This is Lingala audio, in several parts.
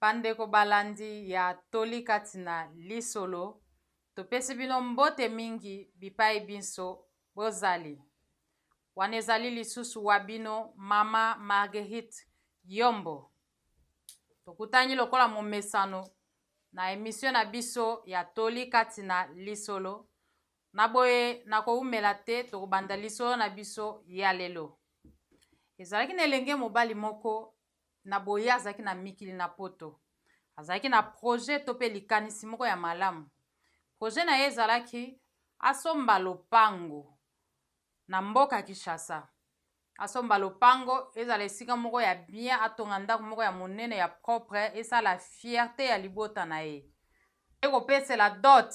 bandeko balandi ya toli kati na lisolo topesi bino mbote mingi bipai binso bozali wana ezali lisusu wa bino mama marguerite yombo tokutani lokola momesano Na emission na biso ya toli kati na lisolo. Na boye na kowumela te tokobanda lisolo na biso ya lelo. Ezalaki na elenge mobali moko na boye azalaki na mikili na poto. Azalaki na projet to pe likanisi moko ya malamu. Projet na ye ezalaki asomba lopango na mboka Kinshasa. asomba lopango ezala esika moko ya bien atonga ndako moko ya monene ya propre esala fierte ya libota na ye mpe kopesela dot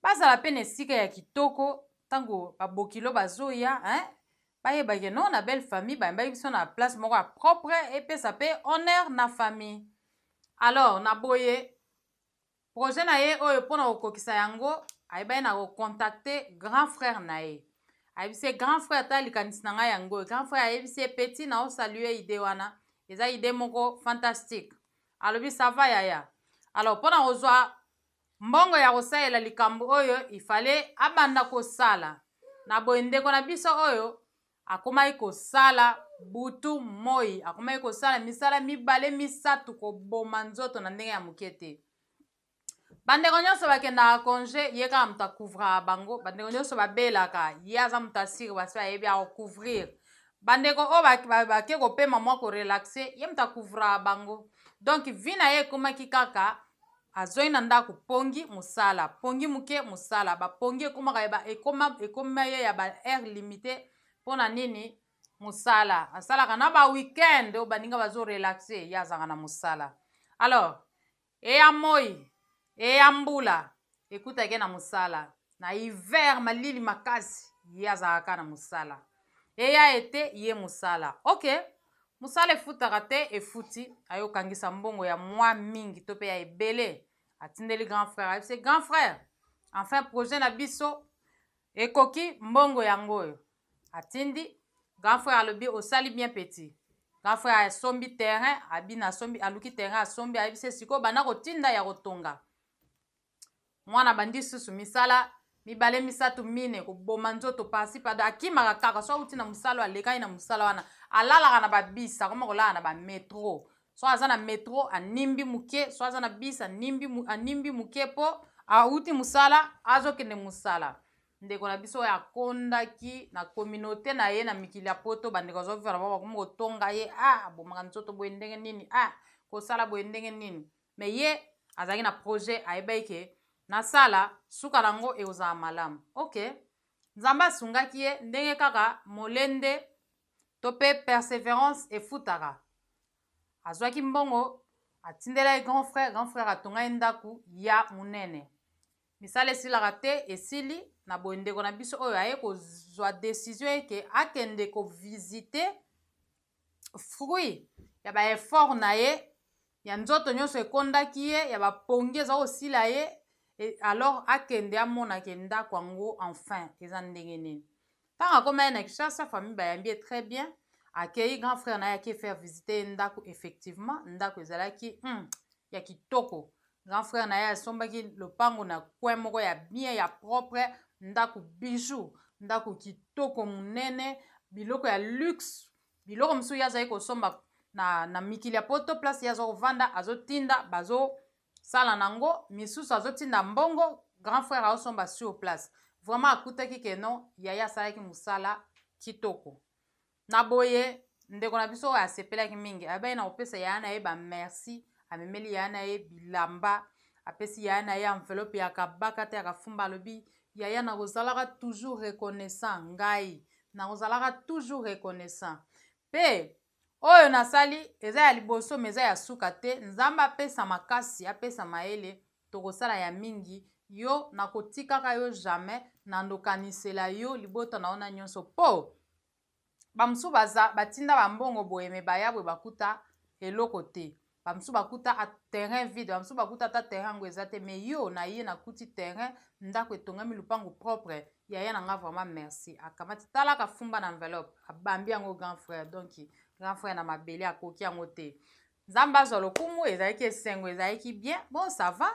bazala mpe na esika ya kitoko ntango babokilo bazoya hein? bayebake no na belle famille bayambaki biso na place moko ya propre epesa mpe honneur na famille alors na boye Projet na ye oyo mpo na kokokisa yango, ayebaki na kocontacte grand frère na ye. Ayebisi ye grand frère ta likanisi na ngai yango oyo. Grand frère ayebisi ye petit na osalue idee wana, eza idee moko fantastique. Alobi ça va yaya. Alors mpo na kozwa mbongo ya kosalela likambo oyo, il fallait abanda kosala. Na boye ndeko na biso oyo Akomaki kosala butu moi, akomaki kosala misala mibale misato, koboma nzoto na ndenge ya moke te. Bandeko nyonso bakendaka konje, ye kaka moto akouvraka bango. Bandeko nyonso babelaka, ye aza moto asiri, basi bayebi akocouvrir. Bandeko oyo bake kopema mwa korelaxe, ye moto akouvraka bango. Donc vi na ye ekomaki kaka Azongi na ndako pongi musala pongi muke musala ba pongi ekomaka ya ba ekoma ekoma ye ya ba heure limite pona nini musala asalaka na ba weekend oyo baninga bazo relaxe ye azalaka na musala alors eya moi eya mbula ekutaki ye na musala na hiver malili makasi ye azalaka na musala eya ete ye musala okay Musala efutaka te efuti ayo kangisa mbongo ya mwa mingi to pe ya ebele atindeli grand frère ayebise grand frère enfin projet na biso ekoki mbongo yango oyo atindi grand frère alobi osali bien petit grand frère asombi terrain abina asombi aluki terrain asombi ayebise sikoyo banda kotinda ya kotonga mwana abandi susu misala mibale misato mine koboma nzoto pasi pada akimaka kaka so auti na mosala alekaki na mosala wana alalaka na babis akoma kolala na bametro so aza na metro animbi moke so aza na bis animbi, animbi moke mpo auti mosala azokende mosala ndeko na biso oyo akondaki na communauté na ye na mikili ya poto bandeko azovivana bango bakomi kotonga ye a ah, abomaka nzoto boye ndenge nini a ah, kosala boye ndenge nini Mais ye azalaki na projet ayebaki ke nasala suka na yango ekozala malamu. Ok. Nzambe asungaki ye ndenge kaka molende to mpe perseverance efutaka. Azwaki mbongo atindela ye grand frère, grand frère atonga ye ndako ya monene. Misala esilaka te, esili na boye ndeko na biso oyo aye kozwa decision eke akende ko visiter fruit ya ba effort na ye ya nzoto nyonso ekondaki ye ya bapongi eza kosila ye alors akende amona ke ndako yango enfin eza ndenge nini ntango akoma ye na kishasa famille bayambi ye très bien akei grand frère na ye ake faire visite ye ndako effectivement ndako ezalaki hmm, ya kitoko Grand frère na ye asombaki lopango na coin moko ya bien ya propre, ndako bijou, ndako kitoko monene, biloko ya luxe, biloko mosusu ye azali kosomba na, na mikili ya poto place ye aza kovanda azotinda bazosala nango misusu azotinda mbongo grand frère aosomba sur place vraiment akutaki ke non yaya asalaki mosala kitoko Na boye, ndeko na biso oyo asepelaki mingi, abaki na kopesa yaya na ye ba merci, amemeli yaya na ye bilamba, apesi yaya na ye enveloppe ya kabaka te ya kafumba, alobi yaya nakozalaka toujours reconnaissant ngai nakozalaka toujours reconnaissant mpe oyo nasali eza ya liboso ma eza ya suka te nzambe apesa makasi apesa mayele tokosala ya mingi yo nakotikaka yo jamais nandokanisela yo libota na yo na nyonso mpo bamosusu baza batinda bambongo boye me baya boye bakuta eloko te bamosusu bakuta terrain vide bamosusu bakuta ata terrain yango eza te me yo na ye nakuti terrain ndako etongami lupango propre yaya na nga vraiment merci akamati talaka fumba na enveloppe abambi yango grand frère donc grand frère na mabele akoki yango te nzambe azwa lokumu ezalaki esengo ezalaki bien bon ça va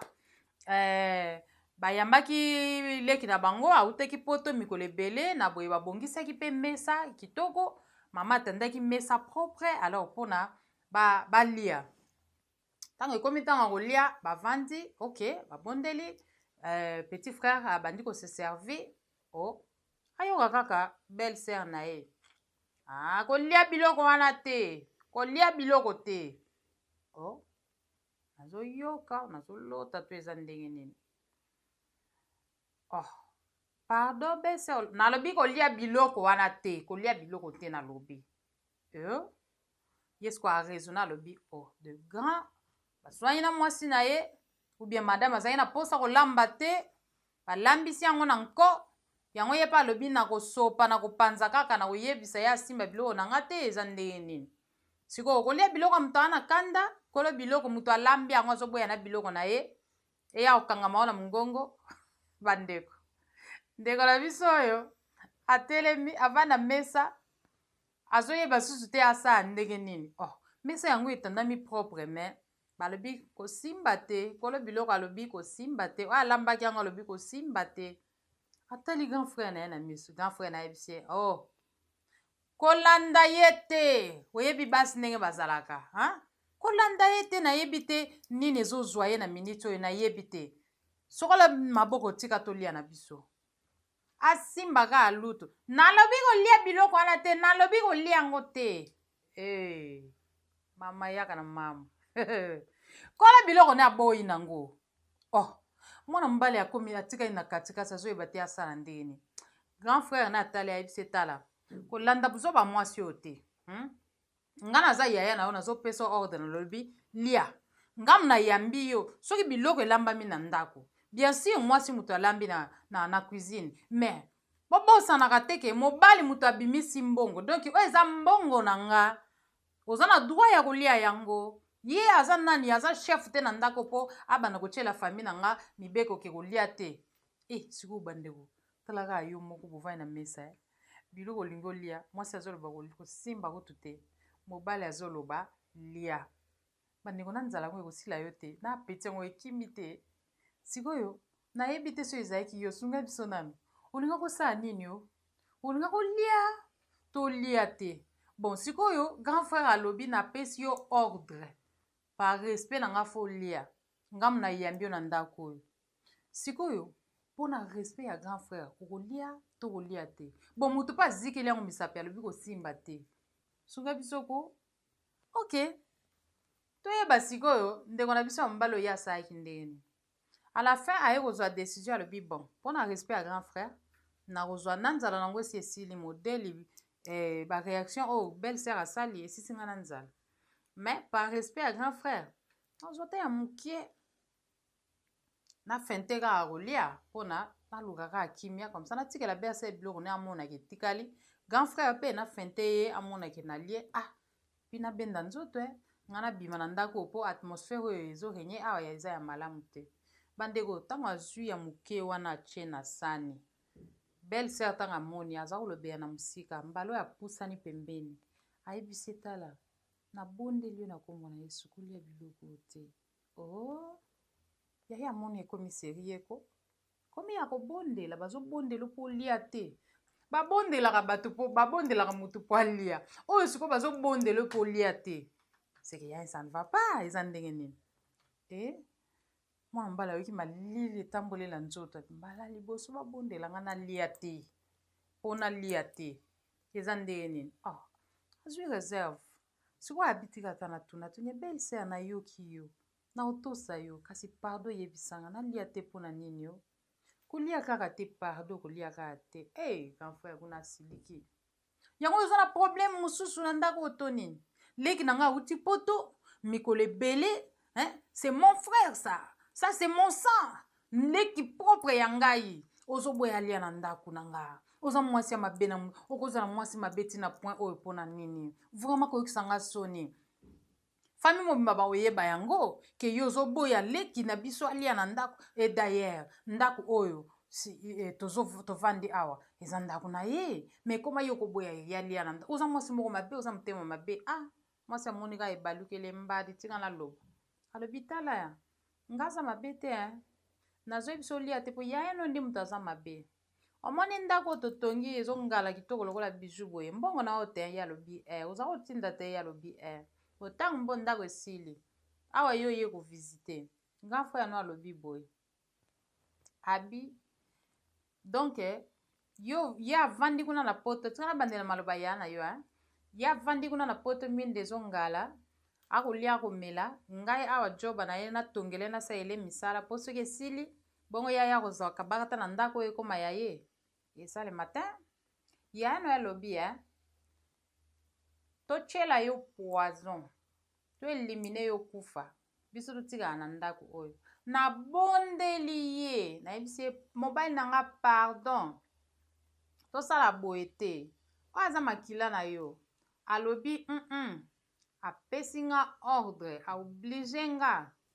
euh, bayambaki leki na bango autaki poto mikolo ebele na boye babongisaki mpe mesa kitoko mama atandaki mesa propre alors mpona balia ba ntango ekomi ntango ya kolia bavandi ok babondeli euh, petit frère abandi koseservi o oh, ayoka kaka belle sœur na ye Ah, kolia biloko wana te kolia biloko te o oh, nazoyoka nazolota to eza ndenge nini oh pardon bese nalobi kolia biloko wana te kolia biloko te nalobi eh? yesu aresona alobi oh de grand Bazwani na mwasi na ye ou bien madame azali na mposa kolamba te, balambisi yango na nko, yango ye mpe alobi na kosopa na kopanza kaka na koyebisa ye asimba biloko na nga te, eza ndenge nini? Sikoyo okolia biloko ya moto aza na kanda, kolo biloko moto alambi yango azoboya na biloko na ye, eya kokangama yo na mongongo bandeko. Ndeko na biso oyo atelemi avanda mesa Azoyeba susu te asala ndenge nini oh mesa yango etandami propre mais balobi kosimba te kolo biloko alobi kosimba te oyo alambaki yango alobi kosimba te atali grand frère na ye na misu grand frère na yebisi ye oh kolanda ye te oyebi basi ndenge bazalaka hein? kolanda ye te nayebi te nini ezozwa ye na miniti oyo nayebi te sokola maboko tika tolia na biso Asimba kaka lutu. Nalobi kolia biloko wana te, nalobi kolia yango te. Hey, eh, mama yaka na mama. Kola biloko na aboyi nango. Oh, mwana mobali akomi atikali na katikati azoyeba te asala ndenge nini. Grand frère na atali ayebisi etala kolanda buzoba mwasi oyo te. Hmm? nga naza yaya na yo nazopesa ordre nalobi lia nga na yambi yo soki biloko elambami na ndako bien sur mwasi moto alambi na, na, na cuisine mais bobosanaka te ke mobali moto abimisi mbongo donk oyo eza mbongo na nga oza na droit ya kolia yango ye aza nani aza chef te na ndako mpo abanda kotyela fami na nga mibeko ke kolia te e eh, sikoyo bandeko Tala kaka yo moko bovandi na mesa eh. Biloko olingi olia, mwasi azoloba kosimba kutu te, mobali azoloba lia. Bandeko na nzala yango ekosila yo te, na apeti yango ekimi te. Sikoyo nayebi te soki ezalaki yo, sunga biso nanu. Olinga kosala nini yo? Olinga kolia? Tolia te. Bon, sikoyo grand frère alobi napesi yo ordre par respect na nga fo olia. Ngamu nayambi yo na ndako oyo. sikoyo mpo na respect ya grand frère okolia to kolia te bon moto mpe azikeli yango misapi alobi kosimba te sunga biso ko ok toyeba sikoyo ndeko na biso ya mobali oyo asalaki ndenge nini à la fin aye kozwa décision alobi bon mpo na respect ya grand frère nakozwa na nzala nango esi esili modele eh, baréaction oyo oh, belle sœur asali esisi ngai na nzala mais par respect ya grand frère nazwa ta ya mokie na fente kaka kolia mpona naluka kaka kimia comme ça natikela be asala biloko ne amonaka etikali grand frère mpe na fente ye amonake na lie ah mpi nabenda nzoto e ngai nabima na ndako mpo atmosphère oyo ezorenye awa ya eza ya malamu te bandeko ntango azwi ya moke wana atie na sani belle sœur ntango amoni aza kolobela na mosika mbala oyo apusani pembeni ayebisi etala nabondeli yo na nkombo na yesu kolia biloko te Ooh yaya amoni ekomi serieux ko komi ya kobondela bazobondela mpo olia te babondelaka bato mpo babondelaka moto mpo alia oyo sikoyo bazobondela mpo olia te seke ya ça ne va pas eza ndenge nini e eh? mwana mobali ayoki malili etambolela nzoto mbala liboso babondela nga nalia te mpo nalia te eza ndenge nini oh, azwi reserve Sikoyo abi tika ata na tuna tuna belle sœur na yoki yo na otosa yo kasi pardon yebisa nga na lia te pona nini yo kolia kaka te pardon kolia kaka te eh hey, grand frère kuna asiliki yango oza na problème mosusu na ndako oto nini leki na ngai awuti poto mikolo ebele hein? c'est mon frère ça ça c'est mon sang leki propre ya ngai ozoboya alia na ndako na nga oza mwasi ya mabe na okozala mwasi mabe ti na point oyo mpo na nini vraiment koyokisa nga soni fami mobimba bakoyeba yango ke yo ozoboya leki na biso alia na ndako e dayere ndako oyo si, e, tovandi awa eza ndako na ye me ekoma yo koboya ye alia na ndako oza mwasi moko mabe oza motema mabe ah Mwasi amoni kaka ebalukeli embadi tika naloba. Alobi tala ya nga aza mabe te hein. Nazoyebisa olia te po yaya no nde moto aza mabe. Omoni ndako oyo totongi ezongala kitoko lokola bijou boye mbongo na oyo te ye alobi eh oza kotinda te ye alobi eh otango mbo ndako esili awa ye oye kovisite grand frère no alobi boye abi donc yo ye avandi kuna na poto tika nabandela maloba ya na yo hein? ye avandi kuna na poto miende ezongala akolia akomela ngai awa joba na ye natongele nasalele misala mpo soki esili bongo yaya akozwa kabakata na ndako oyo ekoma ya ye eza le matin yaya no alobi hein? totyela yo poison to elimine yo kufa biso totikala na ndako oyo nabondeli ye nayebisi ye mobali na nga pardon tosala boye te oyo aza makila na yo alobi mm -mm. apesi nga ordre aoblige nga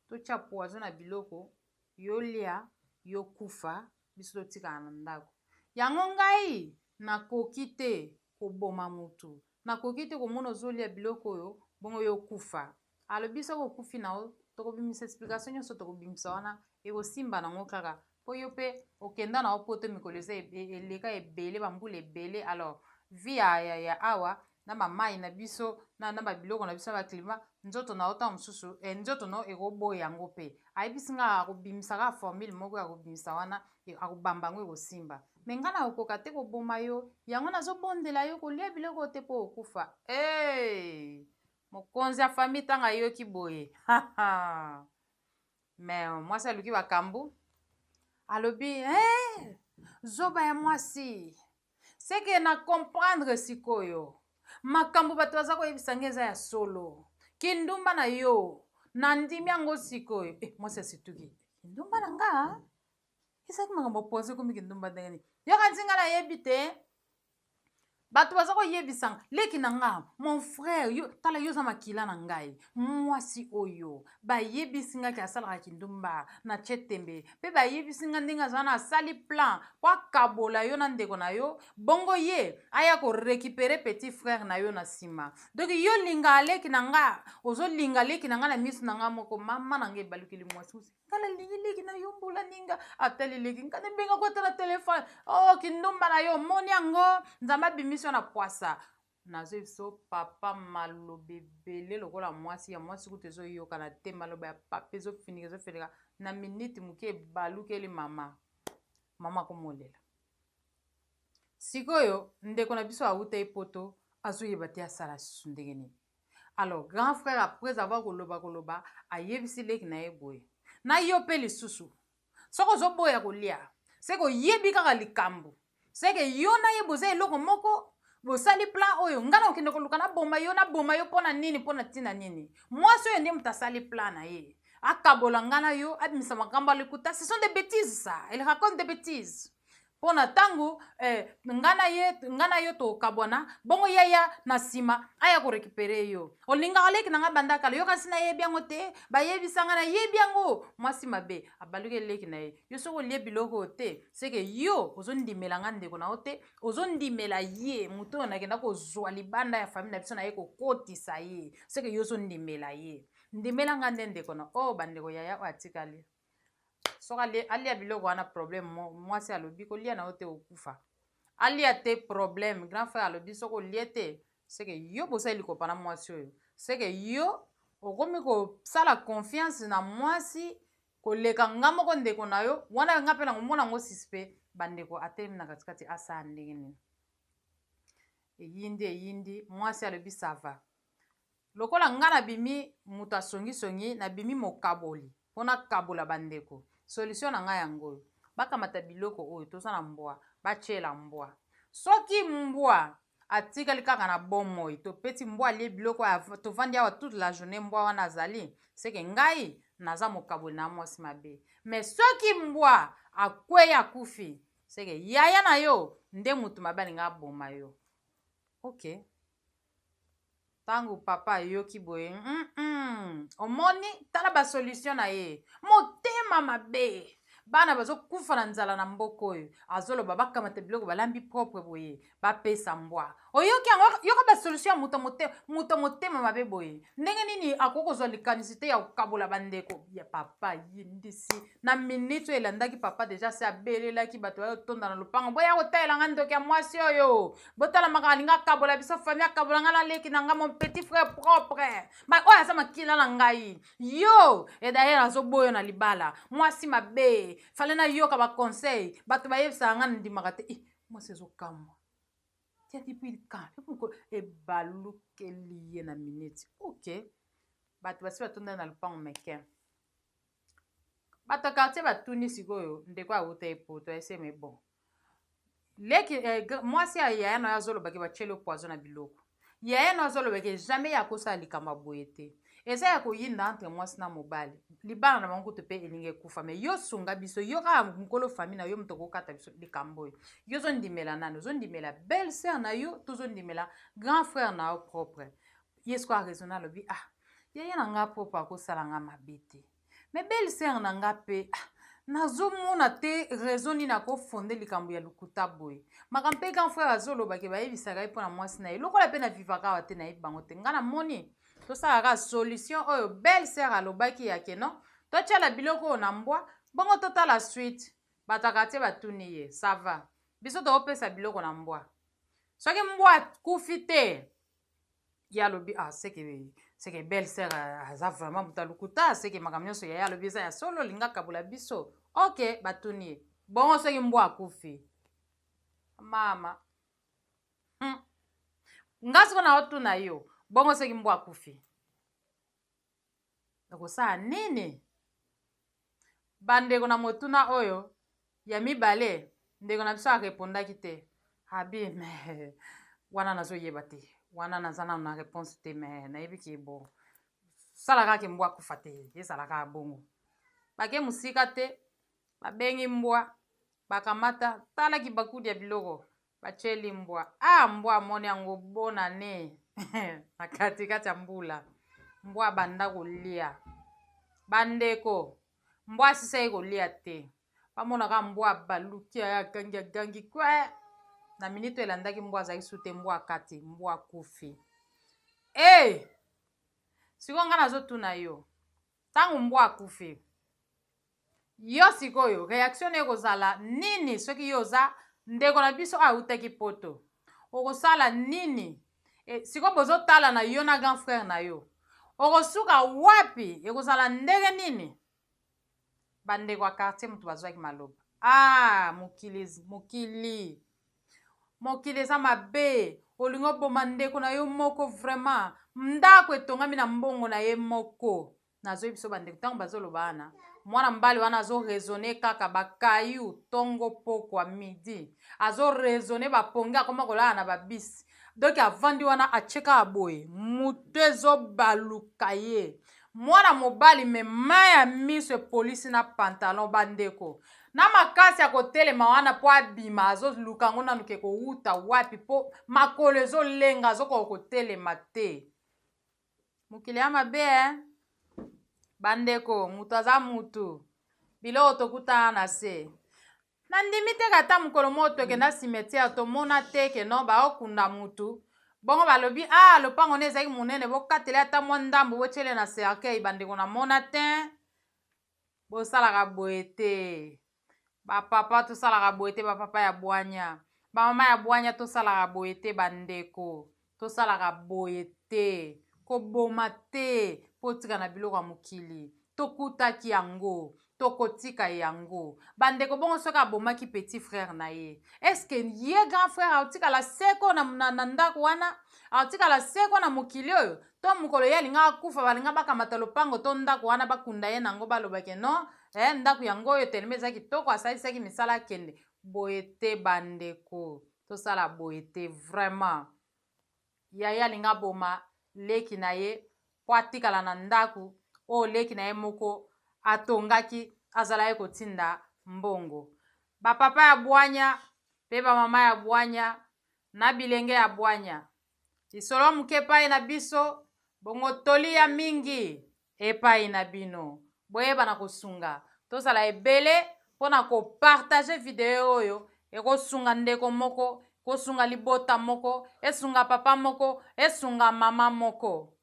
totya poison na biloko yolia yokufa biso totikala na ndako yango ngai nakoki te koboma motu Nakoki te komona ozolia biloko oyo bongo yo okufa alobi soki okufi na yo tokobimisa explication nyonso tokobimisa wana ekosimba na ngo kaka mpo yo mpe okenda na yo poto mikolo eza e, e, eleka ebele bambula ebele alors vi ya, ya, ya awa na bamai na biso na, na babiloko na biso na baklima nzoto na yo ntango mosusu eh, nzoto na yo ekoboya yango mpe ayebisi ngai akobimisa kaka formule moko ya kobimisa wana Yo akobamba yango ekosimba. Me nga nakokoka te koboma yo, yango nazobondela yo kolia biloko oyo te mpo okufa. Hey! Mokonzi ya famille ntango ayoki boye. Me mwasi aluki bakambu. Alobi, hey! Zoba ya mwasi. ce que na comprendre sikoyo makambo bato baza koyebisa ngai eza ya solo kindumba na yo nandimi yango sikoyo eh, mwasi asituki kindumba na nga ezalaki makambo poze komi kindumba ndenge nini yokanisi ngai nayebi te bato baza koyebisanga leki na nga mon frère yo tala yo oza makila na ngai mwasi oyo bayebisi nga ke asalaka kindumba na tie tembe mpe bayebisi nga ndenge aza wana asali plan mpo akabola yo na ndeko na yo bongo ye aya korekipere petit frère na yo na nsima donk yo linga aleki na nga ozolinga aleki na nga na miso na nga moko mama na nga ebalukeli mwasi mosi nga nalingi leki na yo mbula ninga atali leki nga nabengako ata na telefone o oh, kindumba na yo omoni yango nzambe abimisi yo na pwasa Nazo biso papa maloba ebele lokola mwasi ya mwasi kutu ezo yokana te maloba ya papa ezo finika ezo finika na minute muke ebalukeli mama mama komolela sikoyo ndeko na biso awuta ye poto azoyeba te asala susu ndenge nini alors grand frère après avoir koloba koloba ayebisi leki na ye boye na yo mpe lisusu soki ozoboya kolia seke oyebi kaka likambo seke yo na ye boza eloko moko bosali plan oyo ngai nakokende koluka naboma yo naboma yo mpo na nini mpo na ntina nini mwasi oyo nde moto asali plan na ye akabola ngai na yo abimisa makambo ya lokuta ce sont des bêtises ça il raconte des bêtises mpo na ntango eh, nga na ye nga na yo tokabwana bongo yaya na nsima aya korekipere yo olingaka leki na nga banda kala yo kasi nayebi yango te bayebisa nga nayebi yango mwasi mabe abaluki eleki na ye yo soki olie biloko oyo te seke yo ozondimela nga ndeko na yo te ozondimela ye moto oyo nakenda kozwa libanda ya famille na biso na ye kokotisa ye seke yo ozondimela ye ndimela nga nde ndeko na o oh, bandeko yaya oyo atikali soki alia, alia biloko wana problème mwasi alobi kolia na yo te okufa alia te problème grand frère alobi soki olie te seke yo bosali likopa na mwasi oyo seke yo okomi kosala confiance na mwasi koleka nga moko ndeko na yo wana nga mpe nakomona yango suspect bandeko atelemi na katikati asala ndenge nini eyindi eyindi mwasi alobi sava Lokola nga na bimi mutu ya songi songi na bimi mokaboli po na kabola ba ndeko solution na nga yango oyo ba kamata biloko oyo toza na mbwa ba tiela mbwa soki mbwa atikali kaka na bomoi to peti mbwa alie biloko ya tovandi awa toute la journée mbwa wana azali seke ngai naza mokaboli na mwasi mabe me soki mbwa akwei akufi seke yaya na yo nde mutu mabe alinga aboma yo okay ntango papa ayoki boye mm -mm. omoni tala basolution na ye motema mabe bana bazokufa na nzala na mboka oyo azoloba bakamata biloko balambi propre boye bapesa mbwa oyoki yango yoka basolution ya moto motema mabe boye ndenge nini akoki kozwa likanisi te ya kokabola bandeko ya papa yindisi na miniti oyo elandaki papa deja se abelelaki bato bayotonda na lopango boya kotalela ngai ndoki ya mwasi oyo botala makambo alingi akabola biso famille akabola ngai na leki na ngai mon petit frère propre oyo aza makila na ngai yo edayere azoboyo na libala mwasi mabe fale nayoka baconseil bato bayebisaka ngai nandimaka te eh, mwasi ezokamwa ebalukeli ye na minute ok bato basi batonda na lopango meke bato ya quartier batuni sikoyo ndeko awuta epoto eseme bon leki eh, mwasi ya yaya na yo azolobaki batyelo poison na biloko yaya na yo azolobaki jamais ye akosala likambo ya boye te eza ya koyinda entre mwasi na mobali libala na bango kutu mpe elingi ekufa me yo sunga biso yo kaka mokolo fami na yo moto okokata biso likambo oyo yo ozondimela nani ozondimela belle sere na yo to ozondimela grand frère na yo propre ye sikoyo araisona alobi ah yaya na nga propre akosala nga mabe te me belle sere na nga mpe ah, nazomona te raison nini akofonde likambo ya lokuta boye makambo mpe grand frère azoloba ke bayebisaka ye mpo na mwasi na ye lokola mpe na vivaka awa te nayebi bango te nga namoni tosalaka solution oyo belle sere alobaki ya ke non totyala biloko oyo na mbwa bongo totala suite bato ya kartier batuni ye sava biso tokopesa biloko na mbwa soki mbwa akufi te ye alobi ah, seke seke belle sœur euh, aza vraiment moto ya lokuta seke makambo nyonso yaya alobi eza ya solo olinga kabola biso ok batuni ye bongo soki mbwa akufi mama hmm. nga soko na otuna yo bongo soki mbwa akufi Okosala nini? Bandeko na motuna oyo ya mibale, ndeko na biso arepondaki te. Abi, me wana nazoyeba te, wana naza nano na reponse te, me nayebi ke bo sala kaka ke mbwa akufa te, ezala kaka bongo. Bake mosika te, babengi mbwa, bakamata, tala kibakuli ya biloko, Batieli mbwa. Ah, mbwa amoni yango bona ne na katikati ya mbula. Mbwa abanda kolia. Bandeko, mbwa asisaki kolia te. Bamonaka mbwa abaluki aya agangi agangi kwe. Na miniti oyo elandaki mbwa azalaki su te mbwa akati, mbwa akufi. Ee! Eh! Sikoyo ngai nazotuna yo, ntango mbwa akufi Yo sikoyo reaction nayo ekozala nini soki yo oza ndeko na biso oyo awutaki poto? Okosala nini? E, sikoyo bozotala na yo na grand frère na yo okosuka wapi? Ekozala ndenge nini? Bandeko ya quartier moto bazwaki maloba. Ah, mokili, mokili, mokili eza mabe. Olingi oboma ndeko na yo moko vraiment. Ndako etongami na mbongo na ye moko. Nazo yebiso ba ndeko tango bazo loba wana mwana mobali wana azo raisonner kaka ba caillou tongo pokwa midi azo raisonner ba pongi akoma kolala na ba bisi donc avandi wana atie kaka boye moto ezo baluka ye mwana mobali me mai ya miso epolisi na pantalon bandeko na makasi ya kotelema wana mpo abima azoluka yango nanu ke kowuta wapi mpo makolo ezolenga azokoka kotelema te mokili ya mabe eh. bandeko moto aza motu biloko tokutana na se nandimi te kata mokolo moko tokenda cimetière tomona te ke non baokunda motu bongo balobi a ah, lopango ne ezalaki monene bokateli ata mwa ndambo botyele na cercueil bandeko namona te Bosalaka boye te ba papa tosalaka boye te ba papa ya bwanya ba mama ya bwanya tosalaka boye te bandeko tosalaka boye te koboma te mpo otika na biloko ya mokili tokutaki yango tokotika yango bandeko bongo soki abomaki petit frère na ye eske ye grand frère aotikala seko na, na, na ndako wana aotikala seko na mokili oyo to mokolo ye alinga akufa balinga bakamata lopango to ndako wana bakunda ye nango baloba ke no eh, ndako yango oyo telema eza kitoko asalisaki misala akende boye te bandeko tosala boye te vraiment yaya alinga aboma leki na ye mpo atikala na ndako oyo leki na ye moko atongaki azala ye kotinda mbongo bapapa ya bwanya mpe bamama ya bwanya na bilenge ya bwanya Lisolo moke epai na biso, bongo toli ya mingi epai na bino. Boyeba na kosunga. Tozala ebele mpo na kopartage video oyo ekosunga ndeko moko, kosunga libota moko, esunga papa moko, esunga mama moko.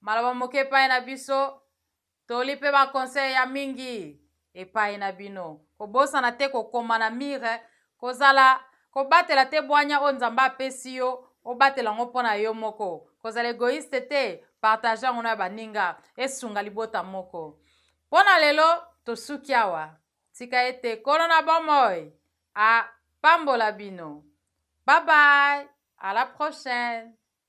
Maloba moke epai na biso, Toli pe ba conseils ya mingi epayi na bino. Kobosana te kokoma na mur, kozala kobatela te bwanya oyo Nzambe apesi yo, obatela yango mpo na yo moko. Kozala egoiste te, partager yango na baninga, esunga libota moko. Mpo na lelo tosuki awa. Tika ete Nkolo na bomoi apambola bino. Bye bye, à la prochaine.